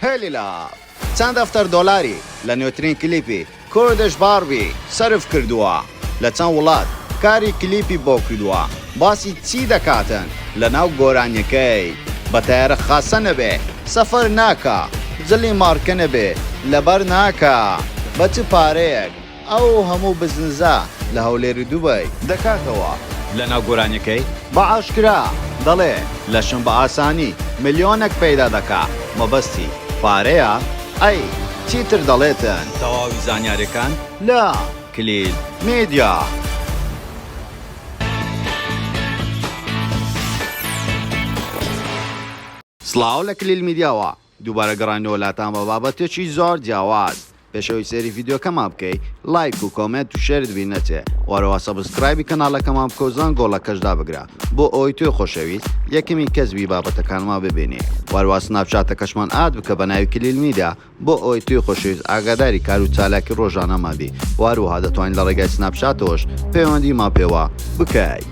هێلی لاڤ چەند دەفتەر دۆلاری لە نوێترین کلیپی کوردش باربی سەرف کردووە؟ لە چەند وڵات کاری کلیپی بۆ کردووە؟ باسی چی دەکاتن لە ناو گۆرانیەکەی؟ بە تەیارە خاسە نەبێ سەفەر ناکا؟ جلی مارکە نەبێ لەبەر ناکا؟ بە چ پارەیەک؟ ئەو هەموو بزنزە لە هەولێر و دوبەی دەکاتەوە لەناو گۆرانیەکەی بە ئاشکرا دەڵێ لەشم بە ئاسانی ملیۆنەک پەیدا دەکا مەبەستی پارەیە ئەی چیتر دەڵێتن. تەواوی زانیاریەکان لە، کلیل میدیا. سڵاو لە کلیل میدیاوە دووبارە گەڕاینەوە لاتان بە بابەتێکی زۆر جیاواز پێشەوەی سەیری ڤیدیۆکەمان بکەی لایک و کۆمێنت و شێرت بیر نەچێ و هەرەوە سەبسکرایبی کەناڵەکەمان بکە و زەنگۆڵەکەش دابگرە بۆ ئەوەی تۆی خۆشەویست یەکەمین کەس بی بابەتەکانمان ببینی و هەروا سناپچاتەکەشمان ئاد بکە بە ناوی کلیل میدیا بۆ ئەوەی تۆی خۆشەویست ئاگاداری کار و چالاکی ڕۆژانەمان بی و هەروەها دەتوانی لە ڕێگای سناپچاتەوەش پەیوەندیمان پێوە بکەی.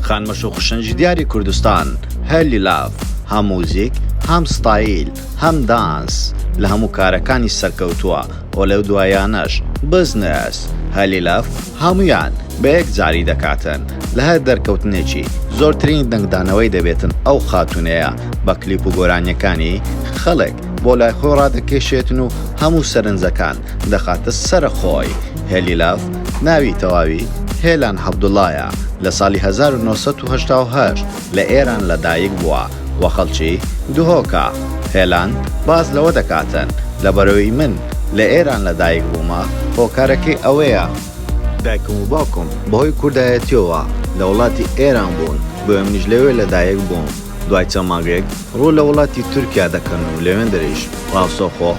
خانمە شوخشنجی دیاری کوردستان هەر لیلاڤ هەم موزیک هەم ستایل هەم دانس لە هەموو کارەکانی سەرکەوتووە و لەو دوایانەش بزنس هەر لیلاڤ هەمویان بە یەک جاری دەکاتن لە هەر دەرکەوتنێکی زۆرترین دەنگدانەوەی دەبێتن ئەو خاتونەیە بە کلیپ و گۆرانیەکانی خەڵک بۆ لای خۆی ڕادەکێشێتن و هەموو سەرنجەکان دەخاتە سەر خۆی. هێلیلاڤ ناوی تەواوی هێلان هەبدوڵایە، لە ساڵی هەزار و نۆ سەد و هەشتا و هەشت لە ئێران لە دایک بووە و خەڵکی دهۆکە. هێلان باس لەوە دەکاتن، لەبەرەوەی من لە ئێران لە دایک بوومە هۆکارەکەی ئەوەیە، دایکم و باوکم بەهۆی کوردایەتیەوە لە وڵاتی ئێران بوون بۆیە منیش لەوێ لە دایک بووم، دوای چەند مانگێک ڕوو لە وڵاتی تورکیا دەکەن و لەوێندریش ڕاستەوخۆ.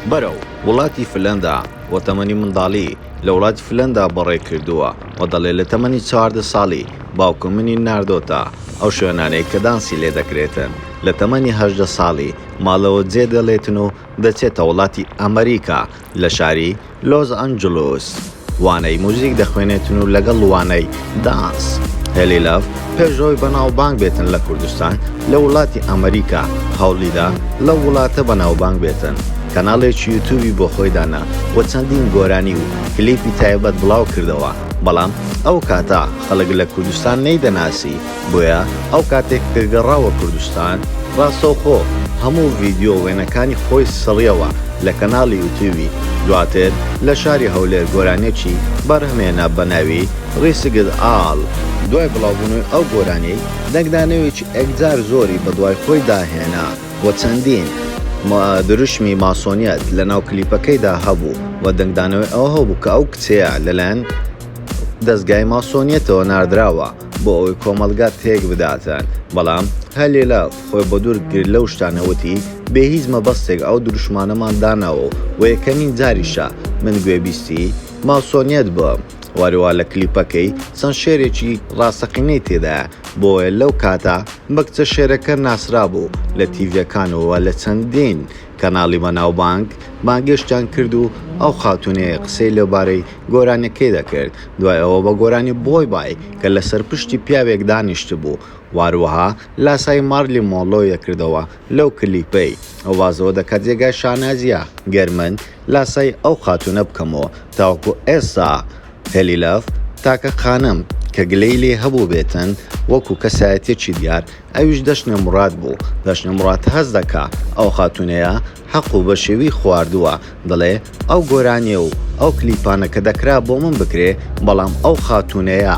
بەرەو وڵاتی فلەندا و تەمەنی منداڵی لە وڵاتی فلەندا بەڕێ کردووە و دەڵێت لە تەمەنی چواردە ساڵی باوکم منی ناردۆتە ئەو شوێنانەی کە دانسی لێ دەکرێتن لە تەمەنی هەژدە ساڵی ماڵەوە جێ دێڵێتن و دەچێتە وڵاتی ئەمریکا لە شاری لۆس ئەنجلوس وانەی موزیک دەخوێنێتن و لەگەڵ وانەی دانس هێلی لاڤ پێش ئەوەی بەناوبانگ بێتن لە کوردستان لە وڵاتی ئەمەریکا هەوڵیدا لەو وڵاتە بەناوبانگ بێتن کەناڵێکی یوتوبی بۆ خۆی دانا و چەندین گۆرانی و کلیپی تایبەت بڵاو کردەوە بەڵام ئەو کاتە خەڵک لە کوردستان نەیدەناسی بۆیە ئەو کاتێک کە گەڕاوە کوردستان ڕاستەوخۆ هەموو ڤیدیۆ وێنەکانی خۆی سڕیەوە لە کەناڵی یوتیوبی دواتر لە شاری هەولێر گۆرانیەکی بەرهەمهێنا بە ناوی ڕیسکت ئاڵ، دوای بڵاوبوونەوەی ئەو گۆرانیەی دەنگدانەوەیەکی ئێکجار زۆری بەدوای خۆیدا هێنا و چەندین دروشمی ماسۆنیەت لەناو کلیپەکەیدا هەبوو و دەنگدانەوەی ئەوە هەبوو کە ئەو کچەیە لەلایەن دەزگای ماسۆنیەتەوە ناردراوە. بۆ ئەوەی کۆمەڵگا تێک بداتن بەڵام هە لێلا خۆی بە دوور گرت لەو شتانە وتی بێ هیچ مەبەستێک ئەو دروشمانەمان داناوە و وە یەکەمین جاریشە من گوێبیستی ماسۆنیەت بووم وەروا لە کلیپەکەی چەند شێرێکی ڕاستەقینەی تێدایە بۆیە لەو کاتە بە کچە شێرەکە ناسرابوو لە تیڤیەکان و لە چەندین کەناڵی بەناوبانگ بانگێشتیان کرد و ئەو خاتوونەیە قسەی لەبارەی گۆرانیەکەی دەکرد دوای ئەوە بە گۆرانی بۆی بای کە لەسەر پشتی پیاوێک دانیشتبوو واروەها لاسای مارلی مۆنرۆ یەکردەوە لەو کلیپەی ئەو وازەوە دەکات جێگای شانازیە گەر من لاسای ئەو خاتوونە بکەمەوە تاوەکو ئێستا هێلی لەڤ تاکە خانم کە گلەی لێ هەبووبێتن وەکو کەسایەتیەکی دیار ئەویش دەشنە موراد بوو، دەشنە موراد هەست دەکا ئەو خاتوونەیە حەق و بەشێوی خواردووە، دەڵێ ئەو گۆرانیە و ئەو کلیپانە کە دەکرا بۆ من بکرێ بەڵام ئەو خاتوونەیە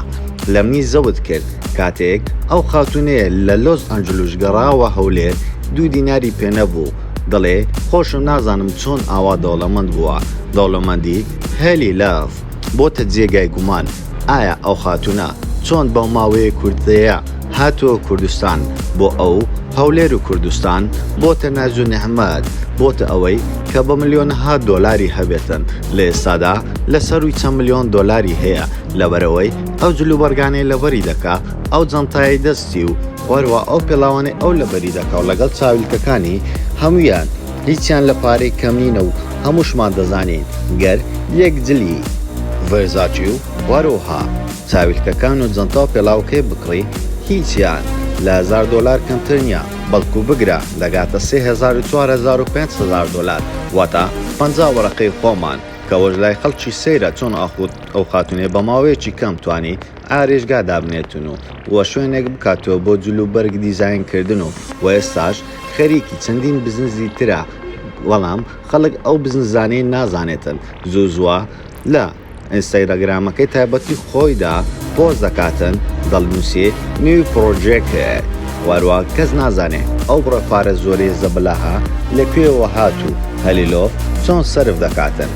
لە منی زەوت کرد، کاتێک ئەو خاتوونەیە لە لۆس ئەنجلوس گەڕاوە هەولێر دوو دیناری پێ نەبوو، دەڵێ خۆشم نازانم چۆن ئاوا دەوڵەمەند بووە، دەوڵەمەندی هەلی لاف. بۆتە جێگای گومان ئایا ئەو خاتونە چۆن بەو ماوەیە کورتەیە هاتوە کوردستان بۆ ئەو هەولێر و کوردستان بۆتە ناز و نعمەت بۆتە ئەوەی کە بە ملیۆنەها دۆلاری هەبێتن لە ئێستادا لە سەروی چەند ملیۆن دۆلاری هەیە لەبەرئەوەی ئەو جلوبەرگانەی لەبەری دەکا ئەو جەنتایەی دەستی و وەروا ئەو پێڵاوانەی ئەو لەبەری دەکا و لەگەڵ چاویلکەکانی هەمویان هیچیان لە پارەی کەم نینە و هەمووشمان دەزانین گەر یەک جلی ڤێرزاچی و هەروەها چاویلکەکان و جەنتا و پێڵاوەکەی بکڕی هیچیان لە هەزار دۆلار کەمتر نیە بەڵکو بگرە دەگاتە سێ هەزار و چوار هەزار و پێنج هەزار دۆلار واتە پەنجا وەرەقەی خۆمان کەوەش لای خەڵکی سەیرە چۆن ئاخود ئەو خاتونەی بە ماوەیەکی کەم توانی ئارێشگا دابنێتن و و شوێنێک بکاتەوە بۆ جل و بەرگ دیزاین کردن و و ئێستاش خەریکی چەندین بزنزی ترە بەڵام خەڵک ئەو بزنزانەی نازانێتن زوو زووە لە ئینستاگرامەکەی تایبەتی خۆیدا پۆست دەکاتن دەڵنوسی نیو پڕۆجێکت واروا کەس نازانێ ئەو بڕە پارە زۆرەی زەبەلاحە لە کوێوە هات و هەلیلۆ چۆن سەرف دەکاتن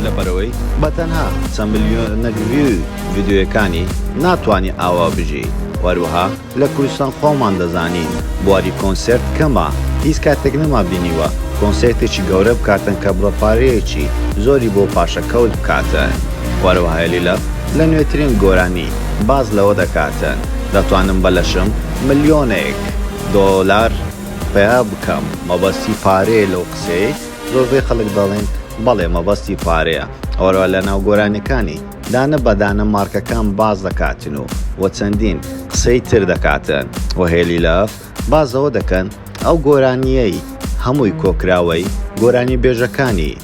لەبەرئەوەی بەتەنها چەند ملیۆنەک ڤیوی. ڤیدیۆیەکانی ناتوانی ئاوا بژی وەروەها لە کوردستان خۆمان دەزانین بواری کۆنسێرت کەمە هیچ کاتێک نەما بینیوە کۆنسێرتێکی گەورە بکاتن کە بڕە پارەیەکی زۆری بۆ پاشەکەوت بکاتن وەروەهای لیلەف لە نوێترین گۆرانی باس لەوە دەکاتن دەتوانم بە لەشم ملیۆنێک دۆلار پەیا بکەم مەبەستی پارەیە لەو قسەیەی زۆربەی خەڵک دەڵێن بەڵێ مەبەستی پارەیە وەروەها لە ناو گۆرانیەکانی دانە بە دانە مارکەکان باس دەکاتن و و چەندین قسەی تر دەکاتن و هێلی لەف باس زەوە دەکەن ئەو گۆرانییەی هەمووی کۆکراوەی گۆرانی بێژەکانی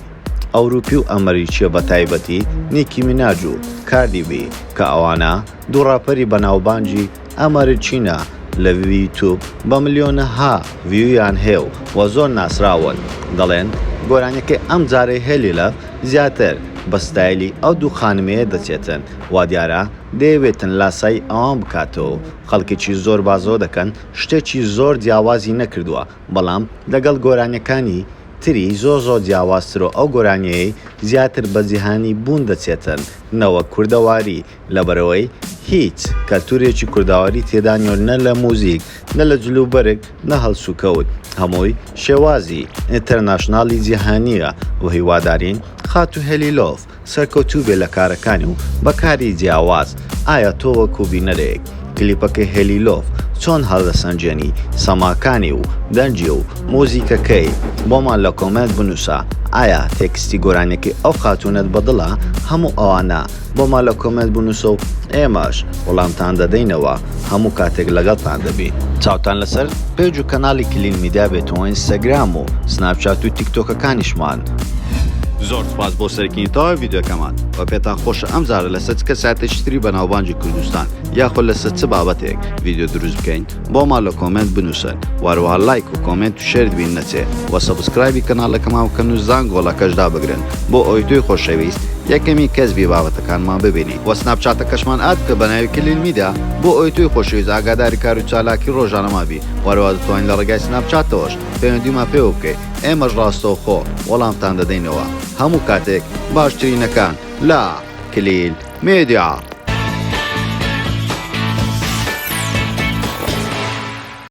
ئەوروپی و ئەمریکیە بە تایبەتی نیکی میناج و کاردی بی کە ئەوانە دوو ڕاپەری بە ناوبانگی ئەمەر چینە لە ویوتوب بە ملیۆنەها ڤیویان هەیە و وە زۆر ناسراون دەڵێن گۆرانیەکەی ئەم جارەی هەلیلە زیاتر بە ستایلی ئەو دوو خانمەیە دەچێتن وادیارە دەیەوێتن لاسایی ئەوان بکاتەوەو خەڵکێکی زۆر بازەوە دەکەن شتێکی زۆر جیاوازی نەکردوە بەڵام لەگەڵ گۆرانیەکانی تری زۆر زۆر جیاوازترو ئەو گۆرانیەیەی زیاتر بە جیهانی بوون دەچێتن نەوەک کوردەواری لەبەرئەوەی هیچ کەلتورێکی کوردەواری تێدا نیەو نە لە موزیک نە لە جل و بەرگ نە هەڵسوکەوت هەمووی شێوازی ئینتەرناشنالی جیهانیە و هیوادارین خاتو هێلیلۆف سەرکەوتوبێ لە کارەکانی و بە کاری جیاواز ئایا تۆ وەکو بینەرێک کلیپەکەی هێلیلۆف چۆن هەڵدەسەنجێنی سەماکانی و دەنگی و موزیکەکەی بۆمان لە کۆمێنت بنوسە ئایا تێکستی گۆرانیەکەی ئەو خاتونەت بەدڵە هەموو ئەوانە بۆمان لە کۆمێنت بنوسە و ئێمەش وەڵامتان دەدەینەوە هەموو کاتێک لەگەڵتان دەبین چاوتان لەسەر پێج و کەناڵی کلیل میدیا بێت و ئینستاگرام و سناپچات و تیکتۆکەکانیشمان. زۆر سوپاس بۆ سەرکردنی تەواوی ڤیدیۆکەمان وە پێتان خۆشە ئەمجارە لەسەر چ کەسایەتێکی تری بەناوبانگی کوردستان یاخۆ لەسەر چ بابەتێک ڤیدیۆ دروست بکەین؟ بۆمان لە کۆمێنت بنوسن وەروەها لایک و کۆمێنت و شێرت بیر نەچێ وە سەبسکرایبی کەناڵەکەمان بکەن و زانگۆڵەکەش دابگرن بۆ ئەوەی تۆی خۆشەویست یەکەمین کەس بی بابەتەکانمان ببینی وە سناپچاتەکەشمان ئاد بکە بە ناوی کلیل میدیا بۆ ئەوەی تۆی خۆشەویست ئاگاداری کار و چالاکی ڕۆژانەمان بی وەروەها دەتوانی لە ڕێگای سناپچاتەوەش پەیوەندیمان پێوە بکەی ئێمەش ڕاستەوخۆ وەڵامتان دەدەینەوە هەموو کاتێک باشترینەکان لە کلیل میدیا.